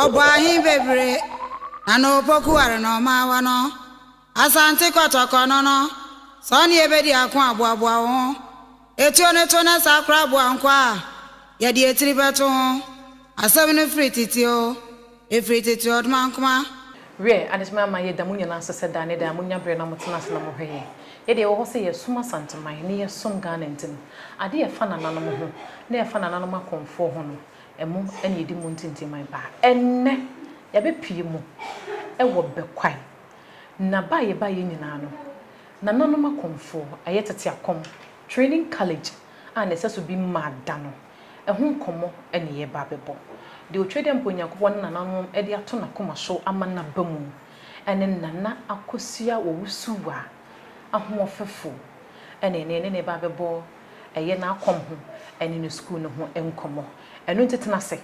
Ɔbɔ ahe bebree na na opoku ware na ɔma awa no? Asante Kɔtɔkɔ no no, sɛ ɔne yɛ bɛdi ako a, boaboa wo ho. Etuo no to na saa koraa boa nkwa a yɛde etiri bɛto ho. Asɛm no firi tete oo, efiri tete ɔdmankoma. Wiɛ, adesoma yi ama yɛda mo nyinaa ase sɛ daa ne daa monya berɛ na motena ase na mohwɛ yɛn. Yɛdeɛ yɛwɔ hɔ sɛ yɛresom Asanteman ne yɛresom Ghana nti no, adeɛ a ɛfa nananom ho ne ɛfa nananom akɔmfoɔ ho no, ɛmo na yɛdi mu ntintiman paa. Ɛnnɛ, yɛabɛpue mu wɔ Bɛkwae, na ba a yɛbaeɛ nyinaa no, nananom akɔmfoɔ, ɛyɛ tete akɔm, training college a na ɛsɛ so bi mmaa da no. Ɛho nkɔmmɔ na yɛreba abɛbɔ. Deɛ ɔtwa dɛ mpo Onyankopɔn ne nananom de ato n'akoma so ama no aba mu. Ɛne Nana Akosua Owusuwa, Ahoɔfɛfo, na ɛnnɛ yɛne no reba abɛbɔ ɛyɛ n'akɔm ho ne ne sukuu no ho nkɔmmɔ. Ɛno nti tena ase,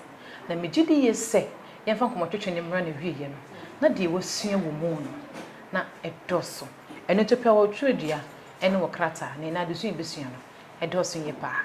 na megye di yie sɛ yɛmfa nkɔmmɔtwetwe no mmra n'awieeɛ no na deɛ woasua wɔ mu no na ɛdɔɔso. Ɛno nti pɛ wɔ twerɛdua ne wɔ krataa, na ɛnnɛ adesua a yɛbɛsua no, ɛdɔɔso yie pa ara.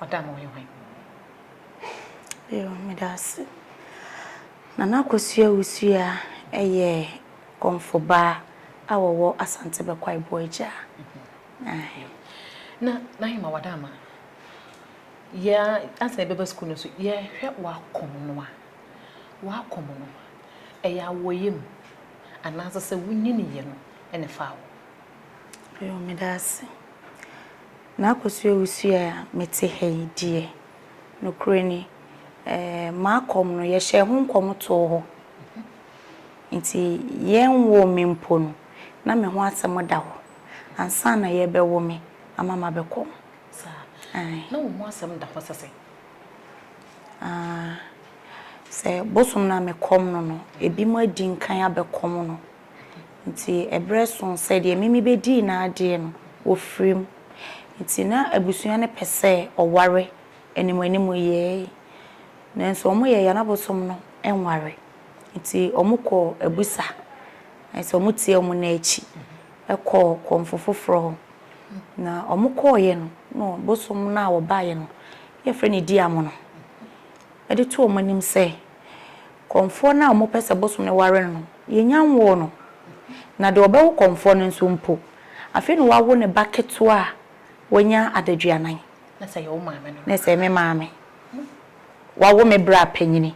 ɔda no hwehwɛ. Yo, meda ase. Nana Akosua Wusua yɛ Kɔmfo ba a ɔwɔ Asante Bɛkwae Boagya. Ae. Na Nahima Wadama, yɛ a, ansa yɛbɛba sukuu no nso, yɛhwɛ w'akɔm no a, w'akɔm no, ɛyɛ awɔyam anaasɛ sɛ wonyiniiɛ no na ɛfaa wo? Yo, meda ase. Na akɔso awusiɛ a mete ha yi deɛ, nokorɛ ni, eh, m'akɔm no, yɛhyɛɛ ho nkɔm too hɔ. Enti yɛnwoo me mpo no, na me ho asɛm da hɔ ansa na yɛbɛwo me ama mabɛkɔm. Saa? Aane. Na wo ho asɛm da hɔ sɛ sɛn? Aah, sɛ bosom no a mekɔm no no, ebinom adi nkan abɛkɔm no. Nti ɛberɛ soo sɛ deɛ Mimi bɛdii n'adeɛ no, ɔfirim. Nti na abusua no pɛ sɛ ɔware anim-anim yɛɛ yi. Nanso wɔyɛɛ yɛn abosom no nware. Nti wɔkɔɔ abusa, ayɛ sɛ wɔtiee wɔn nan akyi kɔɔ kɔmfo foforɔ hɔ. Na wɔkɔeɛ no, na ɔbosom no a ɔbaeɛ no, yɛfrɛ no Diamono, de too wɔn anim sɛ, Kɔmfoɔ no a wɔpɛ sɛ bosom no ware no no, yɛnnya nwoo no. Na deɛ ɔbɛwo kɔmfoɔ no nso mpo, afei na wawo ne ba ketewa a wanya adaduanan. Na sɛ ɛyɛ wo maame no. Na sɛ ɛyɛ me maame. Wawo me berɛ a panyini.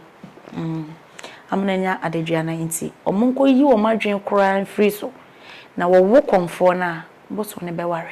Ama no anya adaduanan nti, wɔnkɔyi wɔn adwene koraa mfiri so, na wɔwo kɔmfoɔ no a, bosom no bɛware.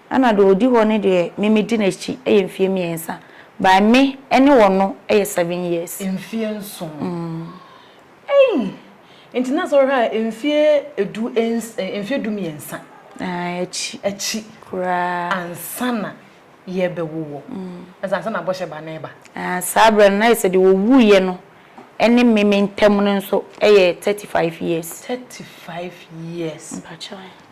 Ɛna deɛ ɔdi hɔ no deɛ me medi n'akyi yɛ mfeɛ mmiɛnsa by me ne ɔno yɛ seven years. Mfeɛ nson eii nti na sɛ wohwɛ a mfeɛ edu ns mfeɛ du mmiɛnsa. Ae akyi. Akyi. Koraa. Ansa na yɛbɛwo wɔ ɛsɛ ansa na bɔhyɛ ba no reba. Ae saa berɛ no na ayɛ sɛ deɛ ɔwuiɛ no ne me me ntam no nso yɛ thirty five years. Thirty five years. Mpakyɛw.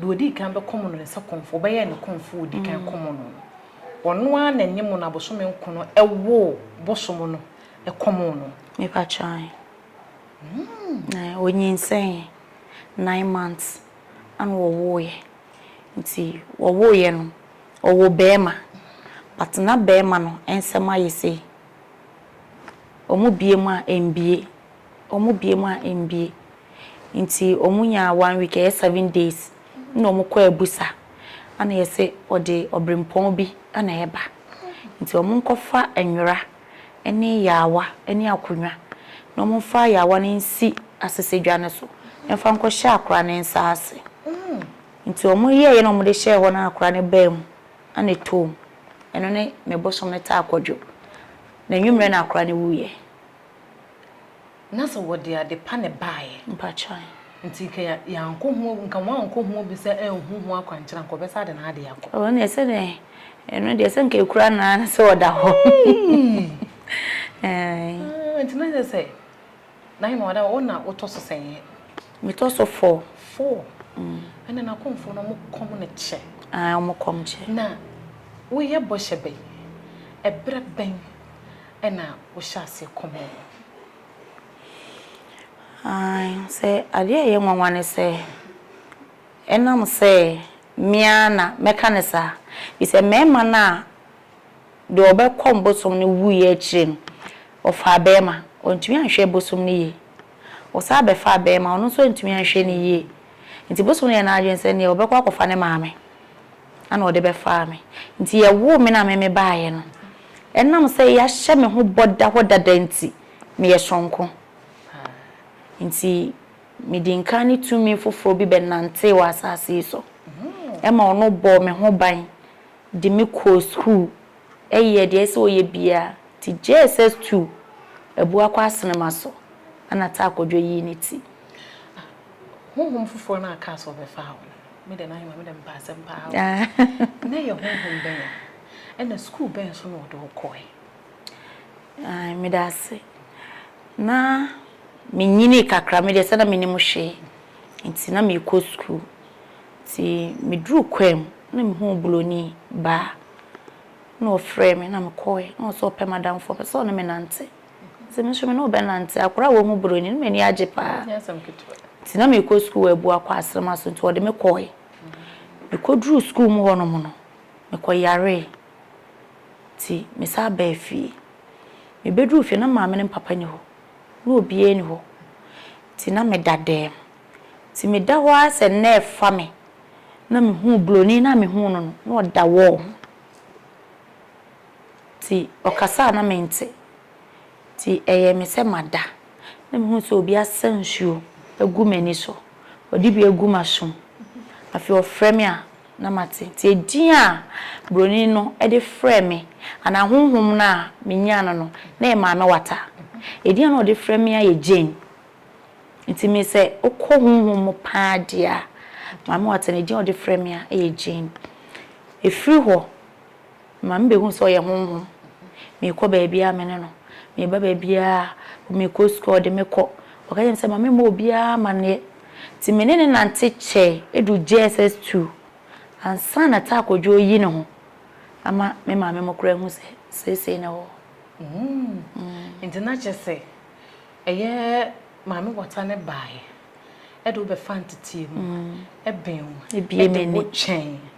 deɛ ɔdii kan bɛkɔm no ne sɛ kɔmfoɔ, ɔbɛyɛɛ ne kɔmfoɔ a ɔdi kan kɔm no. Ɔno ara na ɛne mo no abosome nko no woo bosom no kɔm no. Mepakyɛw ahe? Ɛɛ, ɔnyinsɛneeɛ, nine months ɛna wɔwoeɛ. Nti wɔwoeɛ no, ɔwoo barima but na barima no nsɛm ayɛ sei, wɔbue mu a ɛmbue, wɔbue mu a ɛmbue nti wɔn nyaa one week ɛyɛ seven days na wɔn kɔ abusa ana yɛse wɔde ɔbrempɔn bi na ɛba nti wɔn nkɔfa nwera ɛne yaawa ɛne akonwa na wɔn mfa yaawa no nsi asesedwa no so mfa nkɔ hyɛ akora no nsa ase nti wɔn yɛɛyɛ na wɔn de hyɛɛ hɔ na akora no baa mu ana ɛtoo mu ɛno ne me bosom no taa kɔdwo na nwummerɛ na akora no wuiɛ. Na sɛ wɔde ade pa na ɛbaeɛ. Mpakyɛw. Nti nka yɛankɔ ho abu, nka wɔankɔ ho abu sɛ anhu ho akwankyerɛ anka wɔbɛsan de n'adeɛ akɔ. Ɛno deɛ sɛ dɛn? Ɛno deɛ sɛ nka ɛkura no ara ne sɛ ɔda hɔ. Eii. Ah, nti na kyerɛ sɛ na hene wada hɔ, wo na wotɔ so sɛn yɛ? Metɔ so four. Four? Ɛnna n'akɔmfoɔ no wɔn kɔm no kyɛ. Ae, wɔn kɔm kyɛ. Na woyɛ bɔhyɛ bɛn? Ɛberɛ bɛn? na wohyɛ aseɛ kɔ mu no? Aane, sɛ adeɛ a ɛyɛ nwanwa ne sɛ, ɛnam sɛ me ara na mɛka no saa, ɛfiri sɛ mmarima no a deɛ ɔbɛkɔ bosom no wuiɛ akyire no, ɔfaa barima, ɔantumi anhwɛ bosom no yie. Ɔsan bɛfaa barima, ɔno nso antumi anhwɛ no yie. Nti bosom no yɛɛ n'adwene sɛ neɛ ɔbɛkɔ akɔfa ne maame na ɔde bɛfaa me. Nti yɛwoo me no a me mebaeɛ no, Ɛnam sɛ yɛahyɛ me ho bɔ da hɔ dada nti, meyɛ soronko. Enti mede nka ne tumi foforɔ bi bɛnantee wɔ asase yi so. Ɛma ɔno bɔɔ me ho ban de me kɔɔ sukuu yɛɛ deɛ ɛsɛ sɛ ɔyɛ biara te JSS two, Abuakwa Asenema so na Tah Kwadwo yii ne ti. Honhom foforɔ no a ɛkaa sɛ ɔbɛfaa wo no, me deɛ na ayɛ ma me dɛ mepaase mpo ara o. Na ɛyɛ honhom bɛn? Ɛna sukuu bɛn so na ɔde wo kɔe? Ae, meda ase. Na menyinii kakra, me deɛ sɛ na mennim hwee nti na merekɔ sukuu. Nti meduruu kwaam na mehuu Buroni baa na ɔfrɛɛ me na mekɔe. Na ɔse ɔpɛ m'adamfo, ɔpɛ sɛ ɔne me nante. Nti me nso me ne wo bɛnante. Akwadaa a wahu Buroni no m'ani agye paa. Nti na merekɔ sukuu wɔ Abuakwa Aserema so nti ɔde me kɔe. Mekɔduruu sukuu mu hɔnom no, Mekɔyaree, nti mesan baa fie. Mebɛduruu fie no, na maame ne me papa nni hɔ. Na obiara nni hɔ. Nti na meda dɛm. Nti meda hɔ ara sɛ nna refa me, na mehuu Buronin no a mehuu no no, na ɔda wall ho. Nti ɔkasa a na mente. Nti ɛyɛɛ me sɛ mada. na mehuu sɛ obi asa nsuo agu m'ani so, ɔde bi agu m'asom. Afei ɔfrɛ me a na mate. Nti edin a Buroni no de frɛɛ me anaa honhom no a menyaa no no, na ɛyɛ Maame Wata. Edin a na ɔde frɛ me ara yɛ Jane. Nti me sɛ wokɔ honhom mu pa ara deɛ a, Maame Wata no edin a ɔde frɛ me ara yɛ Jane. Ɛfiri hɔ. Maame bɛhu sɛ ɔyɛ honhom. Mekɔ baabiara me ne no. Meba baabiara, mekɔ sukuu a ɔde me kɔ. Ɔka kyerɛ me sɛ ma memmɔ obiara amanneɛ. Nti me ne no nante kyɛe duu JSS two ansa na Taa Kwadwo reyi ne ho ama me maame mo koraa ahu sɛ seesei na ɔwɔ hɔ. Mm. Nti na kyerɛ sɛ ɛyɛ Maame Wata no baeɛ de wo bɛfaa ntetee mu, ɛbee wo, ɛde wo kyɛn.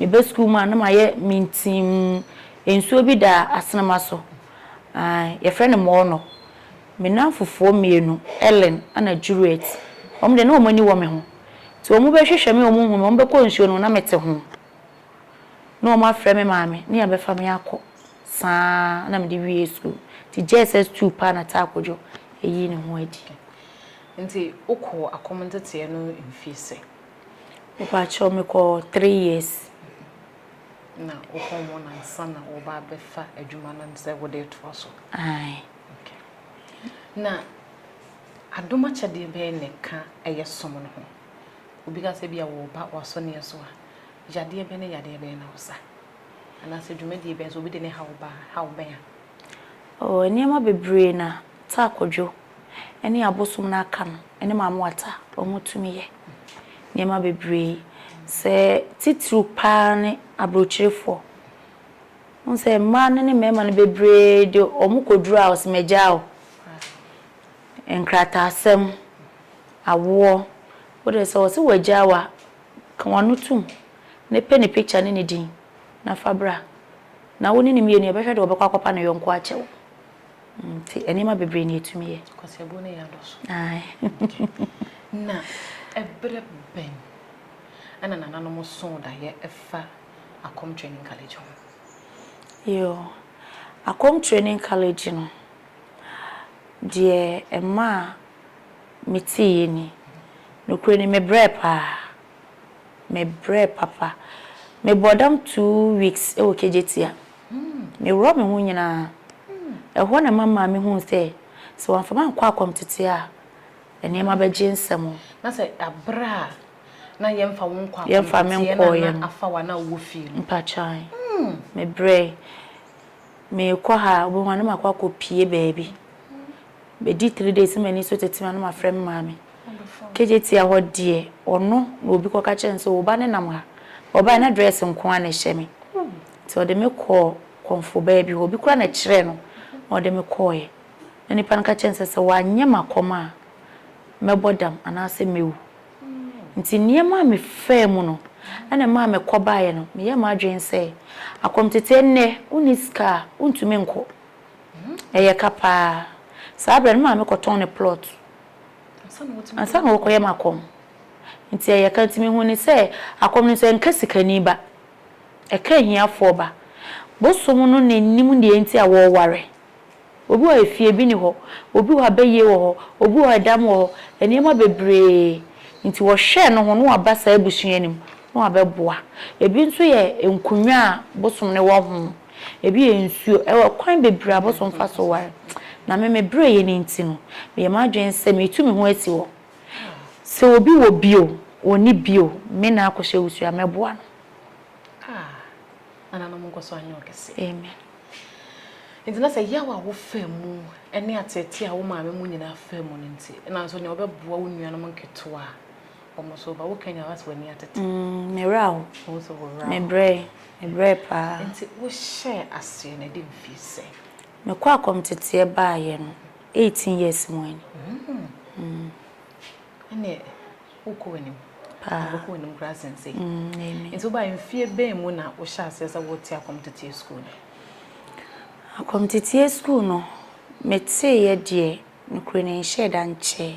Meba sukuu mu a, na mayɛ mintimm. Nsuo bi da asenema so. Ae, yɛfrɛ no mɔɔnɔ. Me nnamfofoɔ mmienu, Ellen ɛna Juliet, wɔn deɛ na wɔn ani wɔ me ho. Nti wɔbɛhwehwɛ me a wɔnhu me, wɔbɛkɔ nsuo no mu na mete ho. Na wɔafrɛ me maame ne abɛfa me akɔ. Saa ara na mede wiee sukuu. Nti JSS two paa na Taa Kojo yii ne ho adi. Nti wokɔɔ akɔm nteteɛ no mfie sɛ? Mepakyɛw mekɔ three years. Na wokɔ ho no ansa na wɔba abɛfa adwuma no sɛ wode retoa so? Ae. Na adom akyɛdeɛ bɛn na ɛka ɛyɛ som no ho? Obi ka sɛ ebia wɔba w'asɔneɛ so a, yadeɛ bɛn ne yadeɛ bɛn na wosa? Anaasɛ dwumadie bɛn, sɛ obi de ne haw ba a, haw bɛn a? Ɔwɔ nneɛma bebree na Taa Kwadwo ne abosom no aka no ne Maame Wata wɔn tumi yɛ. Nneɛma bebree. Sɛ titiriw paa ne abrokyerefoɔ. Wohu sɛ mmaa no ne mmarima no bebree de wɔn kɔduru a wɔse magyaa o, nkrataasɛm, awoɔ, wo deɛ sɛ wɔse wɔagyaa wo a, ka w'ano tom na pɛ ne picture ne ne din. na fa bra, na wo ne no mmienu yɛbɛhwɛ deɛ ɔbɛkɔ akɔpa ne yɔnko akyɛ wo. Nti nneɛma bebree na ɛtumi yɛ. Kwasiabuo no yɛ adɔso. Na ɛberɛ bɛn ɛna nananom soo daeɛ ɛfa Akom Training College ho? Yoo, Akom Training College no, deɛ ɛmaa meteeɛ ni, nokorɛ ni mebrɛɛ paa. Mebrɛɛ papa. Mebɔɔ dam two weeks wɔ Kejetia. Meworɔɔ me ho nyinaa. Ɛhɔ na ɛma maame huu sɛ, sɛ wamfa me ankɔ akɔmtete a, nneɛma bɛgye nsam. Na sɛ bere a na yɛmfa wo nkɔ akɔmteteɛ no a, na afa wo anaa wowɔ fie no? Mpakyɛw. Mebrɛe. Merekɔ ha a, wobɛhu a na makɔ akɔpue baabi. Bedi three days na m'ani so tete me a na mafrɛ me maame. KJT a hɔ deɛ ɔno na obi kɔka kyerɛɛ no sɛ wo ba no nam ha. Ɔbae na dress nko ara na ɛhyɛ me nti ɔde me kɔɔ kɔmfo baa bi hɔ. Obi koraa na ɛkyerɛɛ no na ɔde me kɔeɛ. Na nipa no ka kyerɛɛ no sɛ sɛ wanyɛ m'akɔm a mɛbɔ dam anaasɛ mɛwu. Nti nneɛma a mefaa mu no na ɛmaa mekɔbaeɛ no meyɛɛ m'adwene sɛ akɔmtete ɛnnɛ wonni sika a wontumi nkɔ. Ɛyɛ ka paa. Saa berɛ no, me maame kɔtɔn ne plot ansa na ɔrekɔyɛ m'akɔm. Nti ɛyɛ ka nti mehuu no sɛ akɔm no nso ɛnka sikani ba, ɛka ahiafoɔ ba. Bosom no na ɛnim deɛ nti a wɔreware. Obi wɔ hɔ a efie bi nni hɔ, obi wɔ hɔ a bayie wɔ hɔ, obi wɔ hɔ a ɛdam wɔ hɔ, nneɛma bebree nti wɔhwɛ no ho na wɔaba saa abusua no mu na wɔabɛboa. Ebi nso yɛ nkonnwa a bosom no wɔ ho. Ebi yɛ nsuo. Ɛwɔ akwan bebree a wobɛtumi afa so aware. Na me, me berɛ yɛ no nti no, meyɛ m'adwene sɛ meretu me ho asi hɔ. Sɛ obi wɔ bi o, ɔnni bi o, me na akɔhyɛ wusie a, mɛboa no. Ah, nananom nkɔso anyɛ ɔkɛseɛ. Amen. Nti na sɛ yaw a wofaa mu ne ateetee a wo maame mu nyinaa faa mu no nti, nanso nea ɔbɛboa wo nuanom nketewa a, Me werɛ aho. Mebrɛe, mebrɛe paa. Mekɔ akɔmteteɛ baeɛ no, eighteen years mu ni. Paa. Amen. Akɔmteteɛ sukuu no, meteeɛ deɛ, nokorɛ no, ɛnhyɛɛ da nkyɛɛ.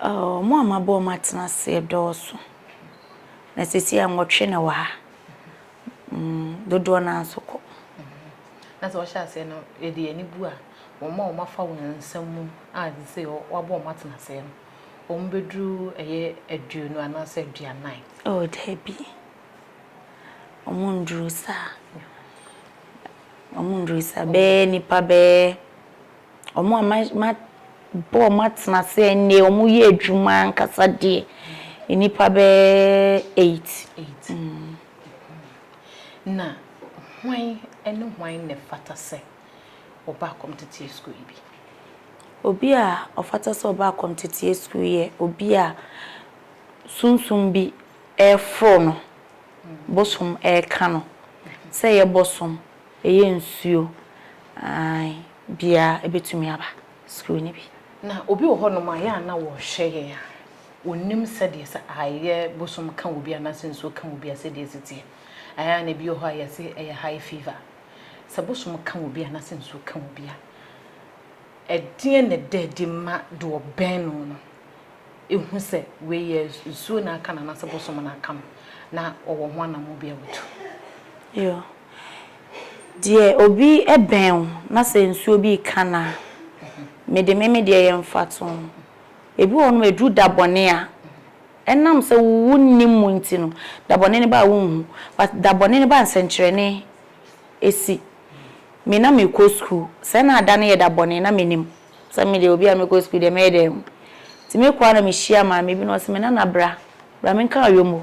Wɔn a mabɔ wɔn atena ase dɔɔso, na seesei a nwɔtwe na wɔ ha. Dodoɔ no ara nso kɔ. Na sɛ wɔhyɛ aseɛ no, yɛde ani bu a, wɔn a wɔafa wɔn nsɛm mu a seesei wɔabɔ wɔn atena ase no, wɔbɛduru ɛyɛ aduonu anaasɛ aduanan? Oh, daabi. Wɔnduru saa. Wɔnduru saa. Bɛyɛ nnipa bɛyɛ wɔn a mabɔ wɔn atena ase ɛnnɛ, wɔyɛ adwuma ankasa deɛ, nnipa bɛyɛ eight. Eight. Mm. Na hwan ne hwan na ɛfata sɛ ɔba akɔmteteɛ sukuu yi bi? Obi a ɔfata sɛ ɔba akɔmteteɛ sukuu yɛ obi a sunsum bi ɛreforo no, bosom ɛreka no, sɛ yɛ bosom Ɛyɛ nsuo ae biaa ɛbɛtumi aba sukuu no bi. Na obi wɔ hɔ nom a yɛ a na wɔhwɛ yɛn a ɔnnim sɛdeɛ sɛ ae yɛ bosom ka obi anaasɛ nsuo ka obi a sɛdeɛ ɛsi teɛ. Ae a na ebi wɔ hɔ a yɛse ɛyɛ high fever. Sɛ bosom ka obi anaasɛ nsuo ka obi a ɛdeɛn na ɛda adi ma deɛ ɔbɛn no no ɛhu sɛ wei yɛ nsuo na aka no anaasɛ bosom na aka no na ɔwɔ ho anamɔ bi a ɔtu? Yoo. Deɛ obi bɛn wo na sɛ nsuo bi reka no a, mede me me deɛ yɛ mfatoho. Ebi wɔ hɔ nom ɛduru da bɔne a, ɛnam sɛ wo nnim mu nti no, da bɔne no ba a wonhu. But da bɔne no ba a nsɛnkyerɛnne si. Me na mekɔ sukuu, sɛ na da no yɛ da bɔne na mennim. Sɛ me deɛ obi a mekɔ sukuu deɛ mɛyɛ dɛn? Nti mekɔ a na mehyia maame bi na ɔse me Nana bra, bra menka Ayommo.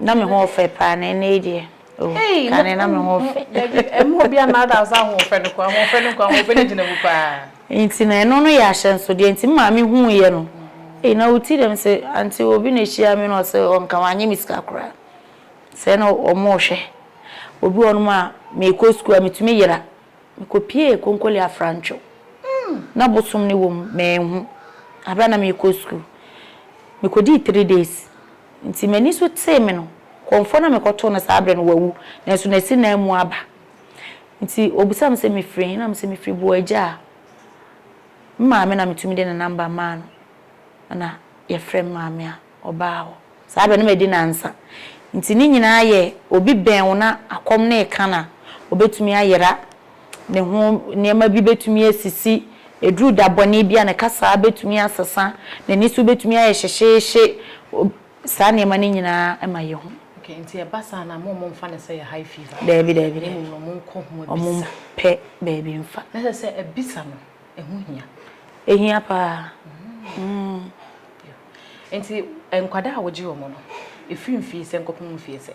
Na me ho ɔfɛ paa na ɛnɛ yi deɛ oh kane na me ho ɔfɛ. Dabi ɛmu obi a na da so ahoɔfɛ no kɔ ahoɔfɛ no kɔ ahoɔfɛ no gyina mu paa. Nti na ɛno no yɛ ahyɛnsodeɛ nti me maame huu yɛ no ei na ɔti dɛm sɛ aunty obi na ɛhyia me na ɔsɛ ɔnka ho anyɛ me sika koraa sɛ na ɔmo rehwɛ obi wɔ nom a mekɔ sukuu a metumi yera mekɔ piee konkole afrantwo na bosom no wɔ mu manhu aberɛ a na mekɔ sukuu mekɔdii three days. Enti m'ani so tee me no, kɔmfoɔ no a mekɔtoo no saa berɛ no, wawu, nanso n'asi nan mu aba. Enti ɔbisaa me sɛ, Mefiri he? Na mese, Mefiri Boagyaa. Me maame na metumi de ne namba maa no, ɛna yɛfrɛɛ me maame a ɔbaa hɔ. Saa berɛ no madi nnansa. Enti ne nyinaa yɛ obi bɛn wo na akɔm no reka no a, ɔbɛtumi ayera ne ho nneɛma bi bɛtumi asisi, ɛduru da bɔne bi a ne kasaa bɛtumi asesa, n'ani so bɛtumi ayɛ hyehyeehye, saa nneɛma no nyinaa ma yɛhu. Okay, nti ɛba saa no a mo momfa no sɛ yɛ high fever. Daabi daabi daabi. Mmom no monkɔ ho abisa. Ɔmo mpɛ baabi mfa. Na sɛ sɛ abisa no ɛho hia. Ɛhia paa. Mm. Nti nkwadaa a wogye wɔn no, ɛfiri mfie sɛ nkɔpem mfie sɛ?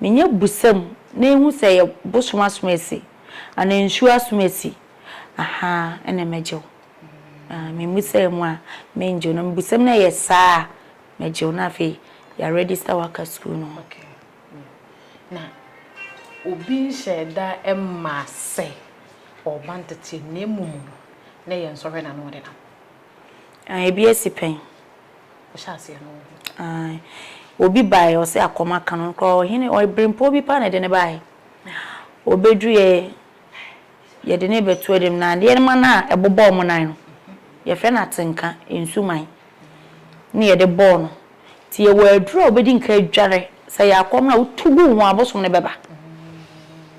Menya busɛm na ehu sɛ ɛyɛ bosom asomasi anaa nsuo asomasi ahaa ɛna mɛgyew aah me mmusaɛ mu a mengyew na me busɛm na ɛyɛ saa a mɛgyew na afei ya register wo aka sukuu no ho. Okay na obi nhyɛɛ da mmaa sɛ ɔɔba nteteɛ na mmom no na ɛyɛ nsɔhwɛ na na ɔde nam? Aah ebi asi pɛn. ɔhyɛ aseɛ no wo ho. Ae. Obi baeɛ, ɔse akɔm aka no, koraa ɔhene, ɔbirempɔɔ bi paa na ɛde no baeɛ. Ɔbɛduruiɛ, yɛde no rebɛto anim no, adeɛ no ma no a ɛbobɔ wɔn nan no, yɛfrɛ no atenka, nsuman, na yɛde bɔɔ no. Nti yɛwɔ aduro a wobɛdi nka adware, sɛ ɛyɛ akɔm no a wotu gu wo ho a, abosom no bɛba.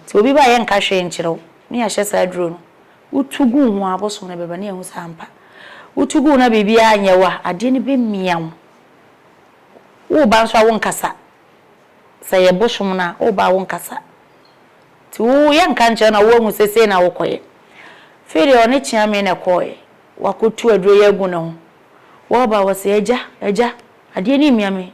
Nti obi ba a yɛnka hwee nkyerɛ wo, na yɛahyɛ saa aduro no, Wotu gu wo ho a, abosoom no bɛba na yɛahu sɛ ampa wotu gu wo na biribiara nyɛ wo a, adeɛ no bɛmia wo. Woreba nso a, wonkasa. Sɛ ɛyɛ bosom no a, woreba a wonkasa. Nti wo yɛnka nkyerɛ na woahu sɛ sei na wokɔyɛ. Afei deɛ ɔne Kyeame na ɛkɔeɛ. Wakɔtu aduro yi agu ne ho. Wɔba a, wɔse, Agya, agya, adeɛ no remia me.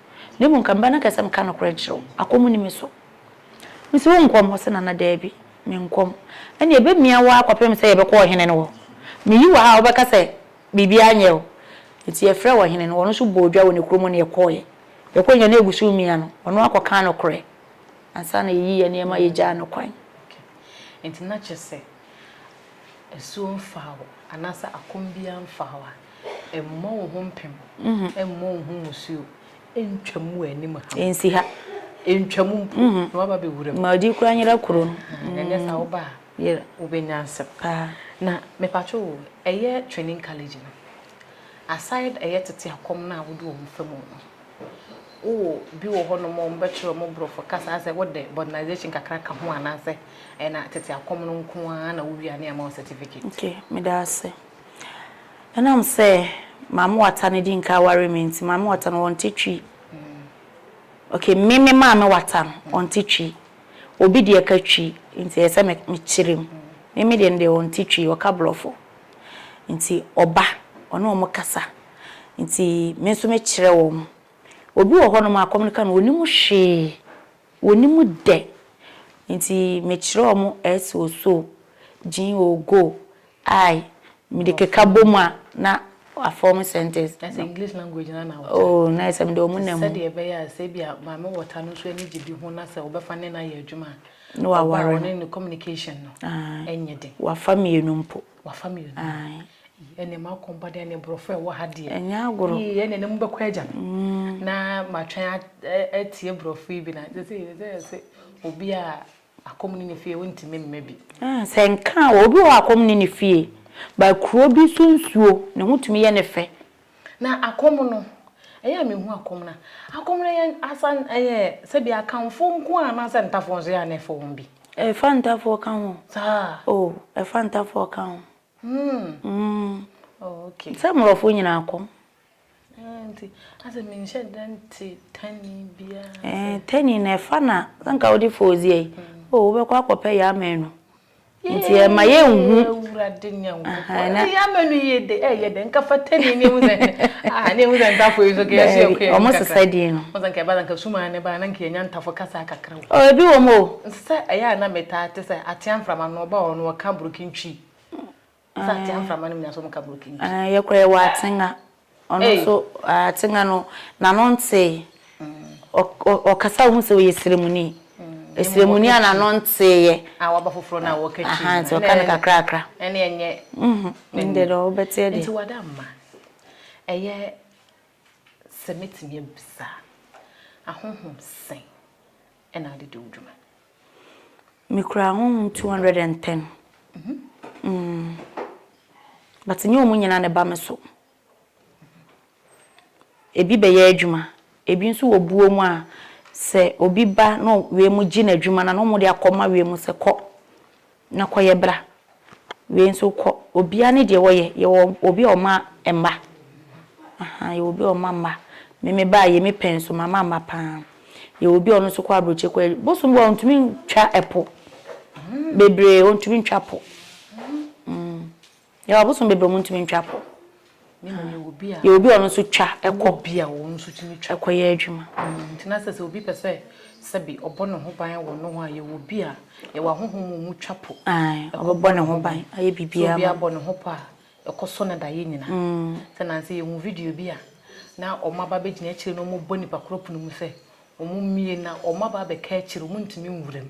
Na mmom nka meba no kɛ sɛ meka nokorɛ nkyerɛ wo, akɔm nni me so. Mese wo nkɔm? Ɔse Nana, daabi, menkɔm. Ɛnneɛ ɛbɛmia wo ara kɔpem sɛ yɛbɛkɔ ɔhene no hɔ. Meyi wo ha a, wobɛka sɛ biribiara nyɛɛ wo. Enti yɛfrɛɛ ɔhene no, ɔno nso bɔɔ dwa wɔ ne kuro mu ne yɛkɔeɛ. Yɛkɔeɛ nyinaa na ɛgu so remia no, ɔno ara kɔkaa nokorɛ ansa na yɛyii yɛn nneɛma yɛgyaa no kwan. Okay. Enti na kyerɛ sɛ asuo mfaa wo anaasɛ akɔm biara mfaa wo a, mmɔ wo ho mpem, mmɔ wo ho musuo, ntwam w'anim ha. Nsi ha. Ntwam mpo na waba bɛwura mu. Ma ɔdi kura nyera kuro no. Ɛnyɛ saa woba a wobɛnya nsɛm. Na mepatwo wo, ɛyɛ training college no, aside ɛyɛ tete akɔm no a wode wɔn fa mu no, Wowɔ bi wɔ hɔnom a wɔbɛkyerɛ wɔn borɔfo kasa sɛ wode Modernisation kakra ka ho anaasɛ ɛyɛ na tete akɔm no nko ara na wowia ne ama wo certificate? Okay, meda ase. Ɛnam sɛ Maame Wata no di nka aware me nti, Maame Wata no ɔnte Twi. Okay, me me Maame Wata no ɔnte Twi. Obi deɛ ka Twi nti ɛyɛ sɛ mekyere mu. Me me deɛ no deɛ ɔnte Twi, ɔka borɔfo. Nti ɔba, ɔne wɔn kasa. Nti me nso mekyerɛ wɔn. Obi wɔ hɔnom a kɔm no ka no ɔnim hwee, ɔnim dɛ. Nti mekyerɛ wɔn S o so, G o go, I mede keka bɔ mu a na a form sentence. Na sɛ English language no ara na wokyerɛ a. Oo na ayɛ sɛ mede wɔn nam. Sɛdeɛ ɛbɛyɛ a sɛ ebia Maame Wɔta no nso ani gye bi ho na sɛ wobɛfa ne no ayɛ adwuma a, ɔba a ɔne no communication no nyɛ den. Wafa mmienu mpo. Wafa me yonaa. Ae. Ii, ɛnneɛ m'akɔm ba deɛ ne borɔfo a ɛwɔ ha deɛ. Ɛnyɛ agorɔ. Ii, ɛnneɛ ne mobɛkɔ agya no. Mm. Na matwɛn atie borɔfo yi bi na sɛ sɛ yɛ sɛ sɛ obi a akɔm ne ne fie wontumi mma bi. Ah, sɛ nka a, obi wɔ hɔ a akɔm ne ne fie, but kuro bi so nsuo ne ho tumi yɛ ne fɛ. Na akɔm no, ɛyɛ a mehu akɔm no a, akɔm no yɛ asa ɛyɛ sɛbi Akanfoɔ nko ara anaasɛ Ntafoɔ nso yɛ a na ɛfa wɔn bi? Ɛfa Ntafoɔ ka ho. Saa? Oh, ɛfa Ntafoɔ ka ho. Hmm. Hmm. Oh, okay. Sɛ Mmorɔfo nyinaa akɔm. Eh, nti, asɛ menhyɛ da nte Tani biara sɛ. Eh, Tani no ɛfa na, sɛ nka wode Fooziɛ yi, oh, wobɛkɔ akɔpɛ yɛ amanu. nti ɛma yɛnhu awurade nyankopɔn na yɛ ama no yie de ɛyɛ dɛ nka fata ni ne ehu sɛ ah ne ehu sɛ ntafo yi so kɛ yɛso yɛkɔ yɛ ɔmo sesa din no ɔmo sɛ nka ɛba sɛ nka suma ne ba na nka yɛnya ntafo kasa kakra o oh, ebi wɔ mu o nsɛ ɛyɛ a na metaa te sɛ atea mframa no ɔba hɔ no ɔka burokintwi Yɛkɔ yɛwɔ Atsenga ɔno nso Atsenga no n'ano ntsee ɔkasa a wohu sɛ ɔyɛ Siremuni Siremuni a n'ano ntsee yɛ ntsi ɔka no kakrakra ndɛ dɛ ɔbɛtseɛ deɛ. Nti wada mma ɛyɛ sɛ mɛtumi abisa ahonhom sɛn na ade di wo dwuma? Mekura honhom two hundred and ten. But nyɛ wɔn nyinaa na ɛba me so. Ebi bɛyɛ adwuma, ebi nso wɔ buo mu a, sɛ obi ba na wiem gye n'adwuma no a, na wɔde akɔma wiem sɛ kɔ. Na kɔ yɛ bra. Wei nso kɔ obia ne deɛ wɔyɛ yɛwɔ obi a ɔma mma ahaa yɛwɔ obi a ɔma mma me me baa yɛ me pɛ nso mama mma paa yɛwɔ obi a ɔno nso kɔ abrokye kɔ yɛ bosom bi wɔ hɔ ɔntumi ntwa ɛpo bebree ɔntumi ntwa po mm. Yɛwɔ abosom bebree a wɔntumi ntwa kɔ. Na mmom yɛwɔ bi a. Yɛwɔ bi a ɔno nso twa kɔ. Yɛwɔ bi a ɔno nso tumi twa. Kɔ yɛ adwuma. Nti na sɛ sɛ obi pɛ sɛ sɛbi ɔbɔ ne ho ban wɔ noho a, yɛwɔ bi a yɛwɔ ahonhom mu a wɔn twa po. Ae, ɔbɛbɔ ne ho ban ayɛ biribiara ma no. Sɛ obiara bɔ ne ho po a, ɛkɔ sɔ no daeɛ nyina. Sɛ nansa yi yɛhuu video bi a na wɔn aba abɛgyina akyire na wɔrebɔ nipa korɔ pono mu sɛ wɔn mmie na wɔn aba abɛka akyire, wɔn ntumi nwura mu.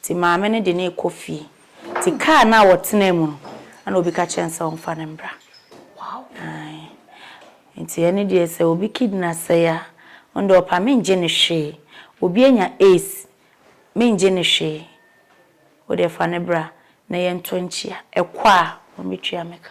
Nti maame no de no rekɔ fie. Nti kaa no a wɔtenaa mu no, ɛna obi ka kyerɛɛ no sɛ ɔmfa no mbra. Ae. Nti ɛno deɛ sɛ obi kidna sɛe a, ɔno deɛ ɔpa mengye no hwee. Obi anya AIDS, mengye no hwee. Wo deɛ fa no bra na yɛntɔ nkyia. Ɛkɔ a, wɔbɛtua me ka.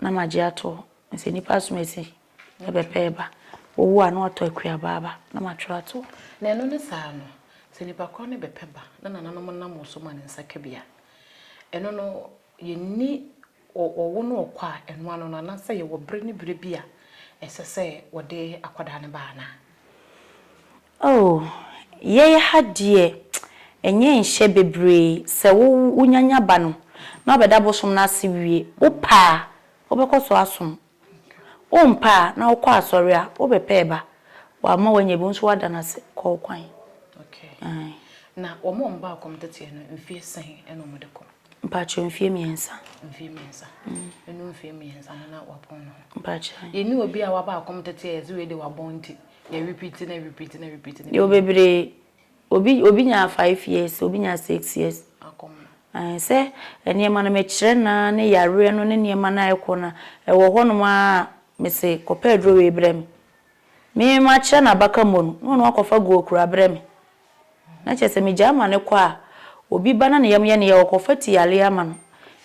Na magye ato hɔ sɛ nnipa asomasi na ɛbɛpɛ ɛba, wɔwu a na wɔatɔ akuabaa aba na matwerɛ ato hɔ. Na ɛno ne saa no, sɛ nnipa korɔ no bɛpɛ ba na nananom nam wo so ma ne nsa ka bi a, ɛno no yɛnni ɔwo ne ɔkɔ a ɛno ano no anaasɛ yɛwɔ berɛ ne berɛ bi a ɛsɛ sɛ wɔde akwadaa no ba anaa? Oh, yɛɛ ha deɛ ɛnyɛ nhyɛ bebree, sɛ wo wo nya nya ba no na ɔbɛda bosom no ase wie, wo pɛ a wo bɛkɔ so asom, wo mpɛ a na wo kɔ asɔre a wo bɛ pɛ ba, wo amma wo anya bi wo nso w'ada no ase kɔ wo kwan. Okay, na wɔn a wɔn baa kɔm teteɛ no mfeɛ sɛn ɛna wɔn de kɔ? Mpakyɛw mfeɛ mmiɛnsa. Mfeɛ mmiɛnsa, ɛnu mfeɛ mmiɛnsa no na w'abɔn ne ho. Mpakyɛw. Yɛnni obi a w'aba akɔm teteɛ a yɛse wei deɛ w'abɔn nti Yɛwɔ bebree, obi obi nyaa five years, obi nyaa six years. Ɛɛ sɛ nneɛma no mekyerɛ no ara ne yareɛ no ne nneɛma no a ɛrekɔ no a, ɛwɔ hɔnom ara a, mese kɔpɛ aduro wei brɛ me. Me makyerɛ no abaka mmɔ no, na ɔno akɔfa guo kura brɛ me. Na kyerɛ sɛ megyae ma no kɔ a, obi ba na ne yam yɛ no yaw a, ɔkɔfa ti yare ama no.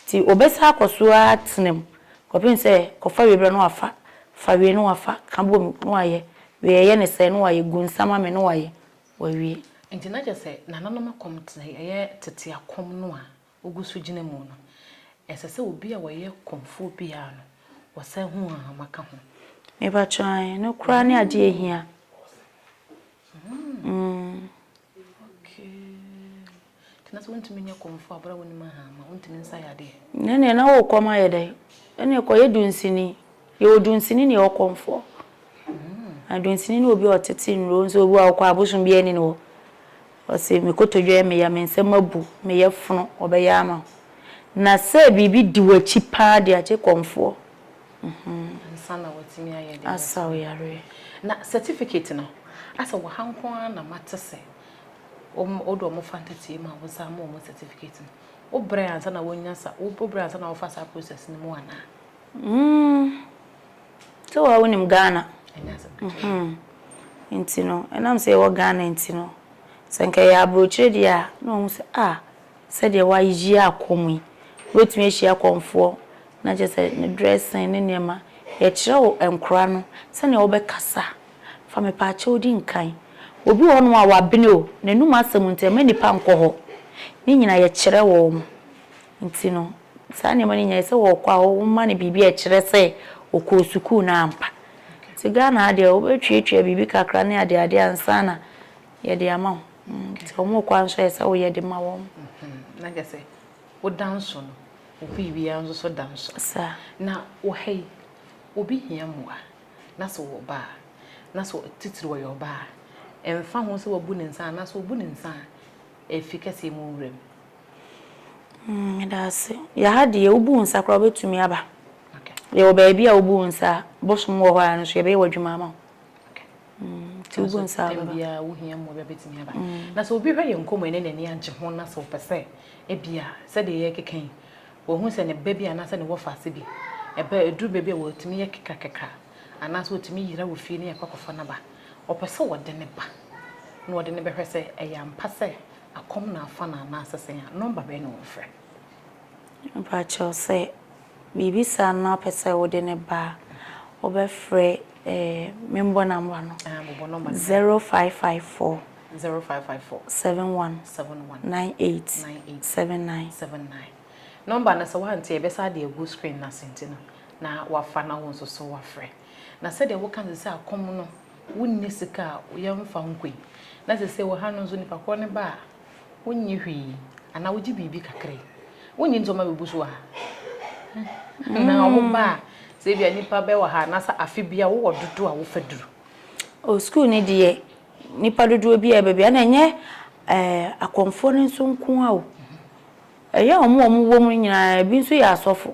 Nti ɔbɛsan akɔ so ara atena mu kɔpem sɛ kɔfa wie berɛ na wafa, fa wie na wafa, ka bɔ mu na wayɛ, wie a yɛ no sɛɛ na wayɛ, gu nsa ma me na wayɛ, wawie. Nti na kyerɛ sɛ nananom akɔm te sɛ ɛyɛ tete akɔm no a wogu so gyina mu no, ɛsɛ sɛ obi a ɔyɛ kɔmfoɔ biara no, ɔsan hu ahahama ka ho. Mepakyɛ ɔn, ɛno koraa ne adeɛ a ɛhia. Mm. Nti na sɛ wontumi nyɛ kɔmfoɔ aberɛ a wonim ahahama, wontumi nsa yɛ adeɛ? Ɛnneɛ na wokɔm ayɛ dɛn? Ɛnneɛ kɔyɛ dunsini. Yɛwɔ dunsini ne yɛwɔ kɔmfoɔ. Na dunsini ne obi a ɔtete nnuro nso obi wɔ hɔ a wokɔ a abosom biara nni ne hɔ. Ɔse me kotodwe yɛ me ya, me nsam abu, me yɛfono, ɔbɛyɛ ama wo. Na sɛ biribi di w'akyi paa deɛ agye kɔmfoɔ. Ansa na watumi ayɛ deɛ ɔpɛ. Asa wo yareɛ. Na certificate no, asɛ wɔ ha nko ara na mate sɛ wode wɔn fa ntateɛ mu a wo san ma wɔn certificate no. Wo brɛ ansa na wonya sa, wo brɛ ansa na wofa saa process no mu anaa? Mm sɛ wo ara wo nim Ghana mm nti no ɛnam sɛ yɛ wɔ Ghana nti no sɛ nka yɛ abrokyire deɛ a na wahu sɛ ah sɛdeɛ wa yi akɔ mu yi wo bɛtumi ahyia kɔmfoɔ na kyerɛ sɛ ne dressing ne nneɛma yɛ kyerɛ wo nkora no sɛdeɛ wo bɛ kasa fa me paakyɛw di nkan obi wɔ hɔ nom a wa bene o na num asɛm nti ɛmɛ nipa nkɔ hɔ ne nyina yɛ kyerɛ wɔn. Nti no, saa nneɛma no nyinaa, ɛsɛ sɛ ɔkɔ a, woma no biribi a ɛkyerɛ sɛ ɔkɔɔ sukuu no ampa. Nti Ghana ha deɛ, wobɛtuatua biribi kakra ne adeade ansa na yɛde ama wo. Nti wɔn rekɔ nso, ɛsɛ sɛ woyɛ de ma wɔn. Na kyerɛ sɛ, woda nso no, obi biara nso so da nso. Saa. Na wɔ ha yi, obi hia mmoa, na sɛ ɔwɔ ba a, na sɛ titiriw ɔyɛ ɔbaa a, ɛmfa ho sɛ wabu ne nsa anaasɛ ɔbu ne nsa a, afi kɛseɛ mu wura mu. Mm, meda ase. Yɛ ha deɛ, wobu wo nsa koraa a, wobɛtumi aba. Yɛwɔ baabi a wobu wo nsa a, bosom wɔ hɔ ara nso yɛbɛyɛ w'adwuma ama wo. Nti wobu nsa a, wobɛba. Bia wohia mmoa bi a, wobɛtumi aba. Na sɛ obi hwɛ yɛn nkɔmmɔ yi na n'ani agye ho na sɛ ɔpɛ sɛ ebia sɛdeɛ yɛrekeka yi, wahu sɛ ne ba bi anaasɛ ne wɔfaase bi, ɛba a, ɛduru baabi a wɔtumi yɛ kekrakekra anaasɛ wɔtumi yera wɔ fie na yɛkɔ akɔfa no aba. Ɔpɛ sɛ ɔde no ba na ɔde no bɛhwɛ sɛ ɛyɛ ampa sɛ Akɔm na afa no anaasɛ sɛn a? Nɔmba bɛn na wɔfrɛ? Mpakyɛw sɛ biribi saa na wopɛ sɛ wode no ba a, wobɛfrɛ eh, membɔ nɔmba no. Ah, bobɔ nɔmba no. Zero five five four. Zero five five four. Seven one. Seven one. Nine eight. Nine eight. Seven nine. Seven nine. Nɔmba no sɛ woante a, yɛbɛsan de agu screen no ase nti no, na woafa na wo nso so woafrɛ. Na sɛdeɛ woka no sɛ sɛ akɔm no Wonni sika a, yɛmfa nkɔ yi. Na sesei wɔ ha no nso, nipa korɔ no ba a, wonnye hwee, anaa wogye biribi kakra. Wonnye ntom ma bɛgu so wɔ ha. Na ɔmo ba a, sɛ ebia nipa bɛ wɔ ha, anaa sɛ afe biara wowɔ dodoɔ a wofa duru. O, sukuu no deɛ, nipa dodoɔ biara a ɛba biara, na ɛnyɛ akɔmfoɔ no nso nko ara o. Ɛyɛ ɔmo a ɔmo wɔ mu no nyinaa, ebi nso yɛ asɔfo.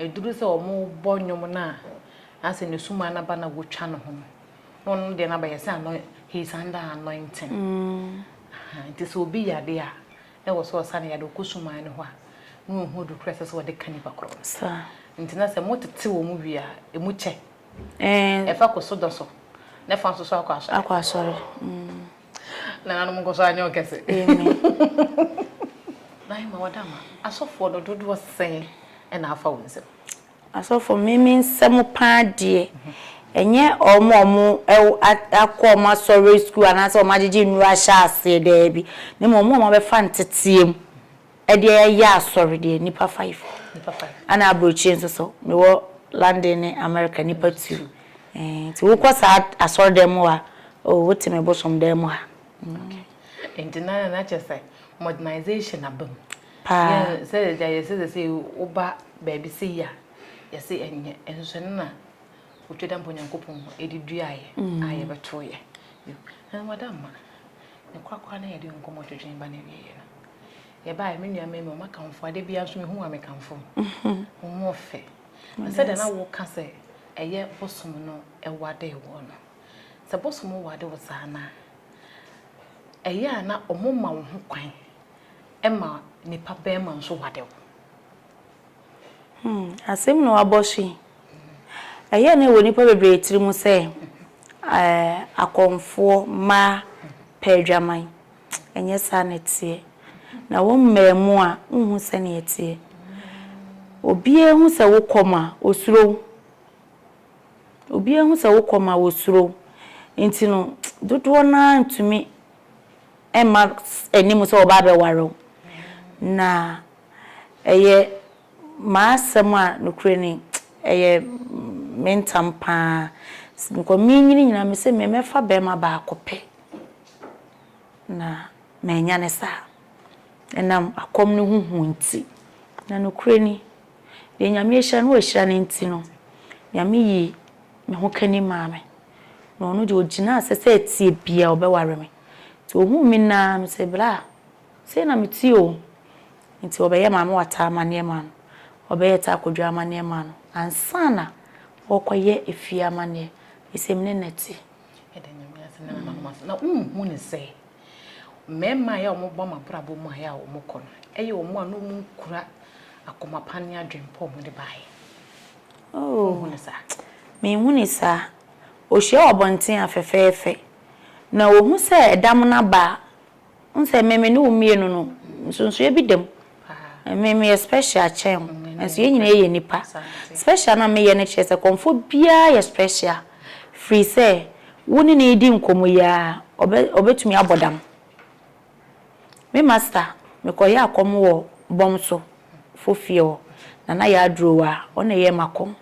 Ɛduru sɛ wɔrebɔ nnwom no a, na sɛ ne sumaa no aba na wɔtwa ne ho no, na ɔno deɛ no abɛyɛ sɛ ano he is under anointing. Aha, nti sɛ obi yade a, na ɛwɔ sɛ ɔsa ne yade, ɔkɔ sumaa no hɔ a, na ɔhu adu korɔ a ɛsɛ sɛ wɔde ka nipa korɔ no. Sa. Nti na sɛ motete wɔn wie a, ɛmu kyɛ. Ɛɛ. Ɛfa kɔ sodɔ so, na ɛfa nso so akɔ asɔre. Akɔ asɔre. Mm. nananom nkɔ so anyɛ ɔkɛse nae ma wɔda ma asɔfoɔ no dodoɔ sɛn ɛna afa wo nsɛm asɔfoɔ meme nsɛm paa deɛ ɛnyɛ wɔn a wɔn akɔ wɔn asɔre sukuu anaasɛ wɔn agyegye nnuro ahyɛ aseɛ daabi na mmom wɔn a wɔabɛfa nteteɛ mu Ɛdeɛ yɛyɛ asɔre deɛ nipa five ɛna abrokyire nso so mewɔ London ne America nipa two nti wokɔ saa asɔre dan mu a oh wote me bosom dan mu ha. Nti na na kyɛ sɛ modernization aba mu paa sɛ deɛ yɛsɛ sɛ sɛ woba baabi sɛ yi a yɛsɛ ɛnyɛ nso ɛno na wotwa da mpa Onyankopɔn ɛde duaeɛ a yɛbɛtoeɛ ɛna wada mma. Ne kwakwa na yɛde nkɔmmɔ twetwee ba n'awieeɛ no, yɛbaeɛ, me nua Memo, mɛkamfo wo. Adeɛ biara nso mehu wo a mekamfo wo. Wo ho ɔfɛ. Na sɛdeɛ na woka sɛ ɛyɛ Bosom no wadee woɔ no, sɛ Bosom wade wo saa no a, ɛyɛ a na wɔma wo ho kwan ma nipa barima nso wade wo. Hmm, asɛm na wabɔ so yi. Ɛyɛ a na ɛwɔ nnipa bebree tirim sɛ akɔmfoɔ mma pɛ adwaman. Ɛnyɛ saa na ɛteɛ. Na wo mmaamu a, wonhu sɛnea ɛteɛ. Obiara hu sɛ wokɔ ma, ɔsuro wo. Obiara hu sɛ wokɔ ma, ɔsuro wo. Nti no, dodoɔ no ara ntumi mma anim sɛ wɔba abɛware wo. Na. Ɛyɛ m'asɛm a, nokorɛ ni, ɛyɛ me ntam pa ara. Nka menyini nyinaa mese mɛfa barima baako pɛ, na mannya no saa. Ɛnam akɔm no ho hu nti, na nokorɛ ni, deɛ Nyame ahyira no wahyira no nti no, Nyame yii me ho kani maa me. Na ɔno deɛ ɔgyinaa sɛ sɛ ɛteɛ biara ɔbɛware me. Nti ɔhuu me nna ara, ɔse bra Sei na mete o! Nti wɔbɛyɛ Maame Wata amanneɛ maa no, wɔbɛyɛ Taa Kwadwo amanneɛ maa no ansa na wɔrekɔyɛ efie amanneɛ. Asɛm no na ɛte. Yɛda Nyame ase na yɛma no ase. Na wonhu no sɛ, mmarima a ɛyɛ a wɔba wɔn abrabɔ mu a ɛyɛ a wɔkɔ no, ɛyɛ wɔn a na wɔnkura akoma pa ne adwene pa a wɔde baeɛ. Wonhu no saa? Menhu no saa. Ɔhyia wɔ abɔnten a, fɛfɛɛfɛ. Na ɔhu sɛ ɛda mono aba a, Wohu sɛ me me ne wo mmienu no, nsonsonoeɛ bi da mu. Me meyɛ special kyɛn wo, nanso yɛn nyinaa yɛ nnipa. Special no a meyɛ no kyerɛ sɛ kɔmfoɔ biara yɛ special, firi sɛ wo ne no redi nkɔmmɔ yi ara, ɔbɛ ɔbɛtumi abɔ dam. Me masta, mekɔyɛɛ akɔm wɔ Bɔmso foɔ fie hɔ, Nana Yaa Aduro Waa, ɔno na ɛyɛɛ m'akɔm.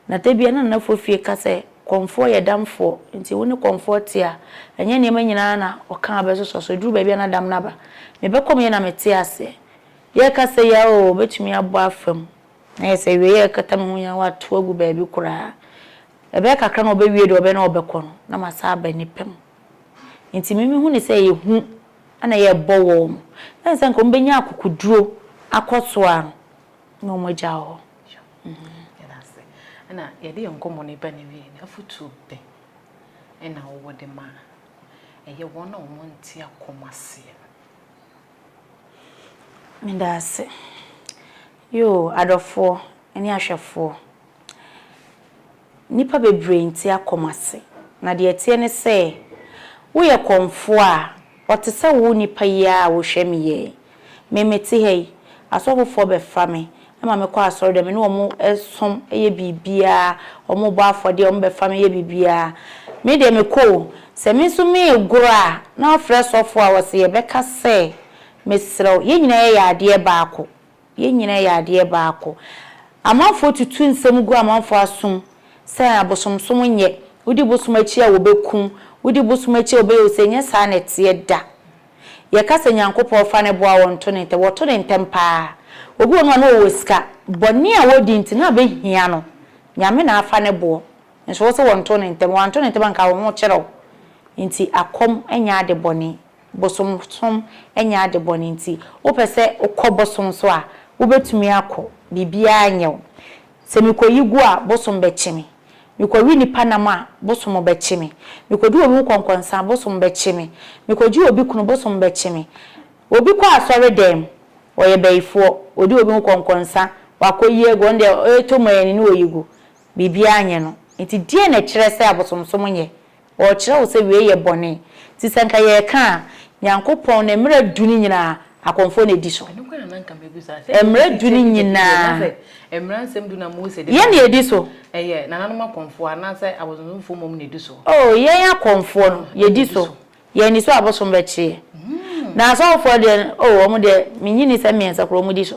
Na da bi a na Nanafoɔ fie ka sɛ Kɔmfoɔ yɛ damfoɔ nti wo ne Kɔmfoɔ te a, ɛnyɛ nneɛma nyinaa na ɔka a bɛsosɔ so. Ɛduru baabi a na dam no aba. Me bɛkɔm yɛ na mete aseɛ. Yɛreka sɛ ya oo, mɛtumi abɔ afa mu. Na ayɛ sɛ awieeɛ a ɛkata me ho nyinaa wɔato agu baabi koraa. Ɛbɛyɛ kakra na ɔbɛwie deɛ ɔbɛyɛ na ɔbɛkɔ no, na masan aba nnipa mu. Nti me mehu no sɛ ehu na yɛrebɔ wɔn. Ɛne sɛ anka wɔbɛnya akokoduro akɔ so a na wɔagya hɔ. Yɛda ase. Ɛna yɛde yɛn nkɔmmɔ no reba n'awiei no, afotuo bɛn na wowɔ de ma ɛyɛ wɔn a wɔnte akɔm aseɛ no? Meda ase. Yoo, adɔfoɔ ne ahwɛfoɔ. Nnipa bebree nte akɔm ase, na deɛ ɛteɛ ne sɛ, woyɛ kɔmfoɔ a, wɔte sɛ wo nnipa yi ara a wohwɛ me yi. Me, mete ha yi, asɔfofoɔ bɛfa me ma mekɔ asɔredan, me ne wɔn som yɛ biribiara, wɔbɔ afɔdeɛ, wɔbɛfa me yɛ biribiara. Me deɛ, mekɔ o, sɛ me nso meregoro a, na wɔafrɛ sɔfoɔ a, wɔse yɛbɛka sɛ, Mesrɛ wo, yɛn nyinaa yɛyɛ adeɛ baako. Yɛn nyinaa yɛ adeɛ baako. Amanfoɔ tutu nsɛm gu amanfoɔ asom sɛ abosomsom nyɛ, wodi bosom akyi a wɔbɛkum, wodi bosom akyi a wɔbɛyɛ wo sei, ɛnyɛ saa na ɛteɛ da. Yɛka sɛ Nyankopɔn fa no boa wɔn nto no ntɛm, wɔto no ntɛm pa ara. Obi wɔ hɔ nom a na ɔwɔ sika, bɔne a wɔdi nti na bɛhia no, Nyame na afa no boɔ, nso wo se wɔnto no ntɛm, wɔanto no ntɛm a anka wo ho kyere wo. Nti akɔm nyɛ ade bɔne. Bosonsom nyɛ ade bɔne nti wopɛ sɛ wokɔ bosom so a, wobɛtumi akɔ. Biribiara nyɛ wo. Sɛ mekɔyi gu a, bosom bɛkye me. Mekɔwe nnipa nam a, bosom bɛkye me. Mekɔdi obi ho kɔnkɔnsa a, bosom bɛkye me. Mekɔgye obi kunu, bosom bɛkye me. Obi kɔ asɔredan mu, ɔyɛ bayifoɔ, ɔdi obi ho kɔnkɔnsa, wakɔyi agu, ɔno deɛ ɔretɔ mu ara ni na ɔyi gu. Biribiara nyɛ no. Enti deɛn na ɛkyerɛ sɛ abosonsom nyɛ Ɔrekyerɛ wo sɛ wei yɛ bɔne. Nti sɛ nka yɛreka a, Nyankopɔn ne mmara du no nyinaa, akɔmfoɔ na ɛdi so. Mmara du no nyinaa, yɛn na ɛdi so. Oh, yɛn akɔmfoɔ no, yɛdi so. Yɛanni so a, abosom bɛkye yɛn. Na asɔfoɔ deɛ no, oh, wɔn deɛ, mennye nni sɛ mmiɛnsa koraa wɔdi so.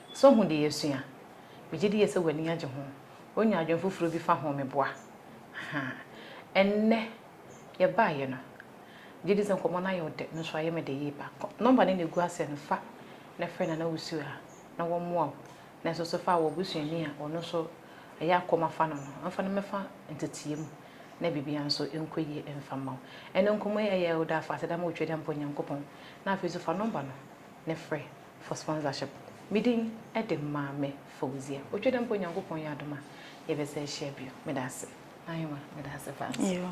So hu deɛ yɛasua? Megye die sɛ w'ani agye ho. Wonya adwene foforɔ bi fa ho meboa? Ahaa. Ɛnnɛ, yɛbaeɛ no, megye di sɛ nkɔmmɔ no ayɛ wo dɛ, nanso ayɛ me dɛ yie paa. Kɔ nɔmba no na ɛgu aseɛ no, fa na frɛ Nana Wusu a, na wɔmmoa wo. Na nso so fa wo busuani a ɔno nso ɛyɛ a kɔm afa no no, mfa no mmɛfa nteteɛ mu na biribiara nso nkɔ yie mfa mma wo. Ɛnnɛ nkɔmmɔ yi ayɛ wo dɛ afahyɛ dɛ ama wo Tweaduampɔ Nyankopɔn. Na afei nso fa nɔmba no Ne frɛ for sponsorship. Me din de Maame Fawzia. Otwa dɛ mpo Nyankopɔn yɛ adom a yɛbɛsa ahyia bio. Meda ase. Aheman, meda ase paa nso.